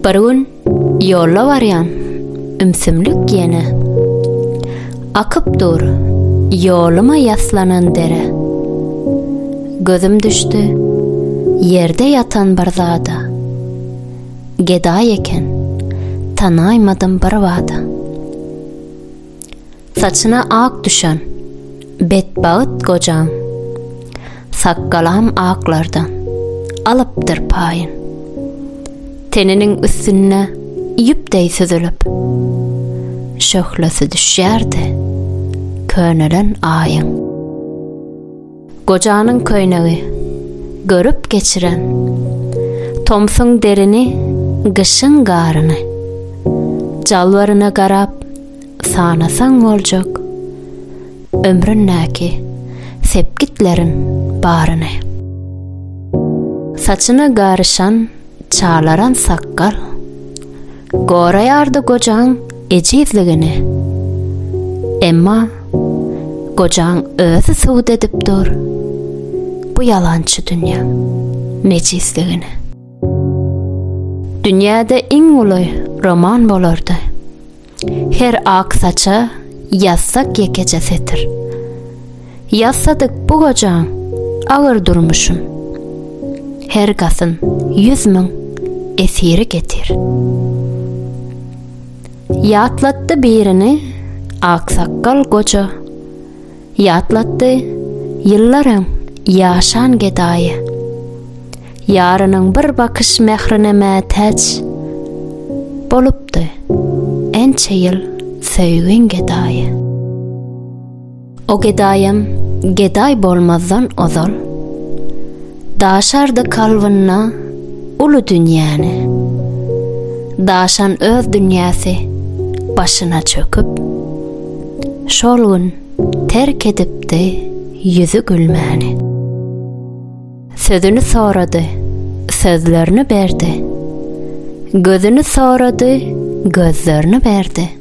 Bir gün ýolla barýan ümsümlik ýene Akyp dur ýoluma ýaslanan dere Gözüm düşdi ýerde ýatan bir zada Gedaý eken tanaýmadym bir bada Saçyna ak düşen, betbagt gojaň. Sakgalam aklardan, alypdyr paýyn. Teniniň üstünde ýüp deý süzülip. Şöhlesi düşýärdi, könelen Aýyň. Gojanyň köýnegi. Görüp geçiren. Tomsuň derini, gyşyň garyny. Jalbaryna garap, sanasaň boljak. Ömründäki sepgitleriň baryny. Saçyna garyşan, çalaran sakgal. Goraýardy gojaň ejizligini. Emma gojaň özi subut edip dur bu ýalançy dünýäň mejizligini. Dünýäde iň uly roman bolardy. Her ak saça ýazsak ýekeje setir. Ýasadyk bu gojaň agyr durmuşyn. Her gasyn ýüz müň esiri getir. Ýatlatdy birini aksakgal goja. Ýatlatdy ýyllar öň ýaşan gedaýy. Ýarynyň bir bakyş mährine mätäç bolupdy ençe ýyl söýgin gedaýy. O gedaýam gedaý bolmazdan ozal, daşardy kalbynda uly dünýäni. Daşan öz dünýäsi başyna çöküp, şol gün terk edipdi ýüzi gülmäni. Sözüni sorady, sözlerini berdi, gözüni sorady, gözlerini berdi.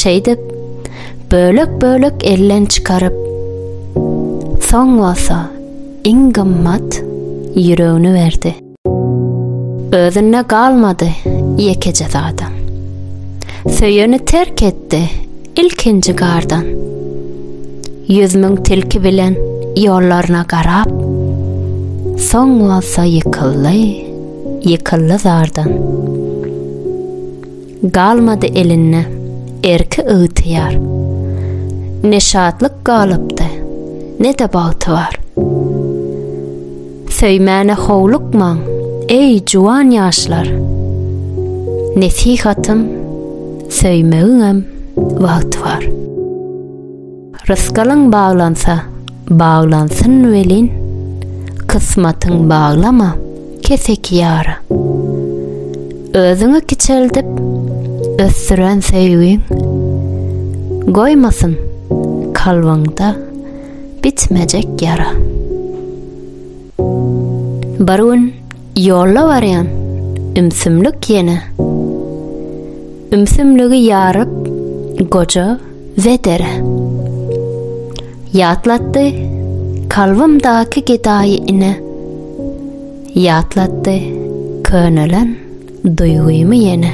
Şeýdip, bölek-bölek elden çykaryp, soň bolsa iň gymmat ýüregini berdi. Özünde galmady ýekeje zadam. Söýeni terk etdi ilkinji gardan. Ýüz müň tilki bilen ýollaryna garap, soň bolsa ýykyldy, ýykyldy zardan. Galmady elinde erki ygtyýar. Ne şatlyk galypdy, ne-de bagtybar. Söýmäne howlukmaň, eý, juwan ýaşlar! Nesihatym, söýmegiňem wagty bar. Rysgalyň baglansa, baglansyn welin, Kysmatyň baglama, keseki ýara. Özüňi kiçeldip, ösdüren söýgiň, Goýmasyn kalbyňda bitmejek ýara. Bir gün ýolla barýan ümsümlik ýene Ümsümligi ýaryp goja Wedere Ýatlatdy kalbymdaky gedaýy ine Ýatlatdy könelen duýgymy ýene.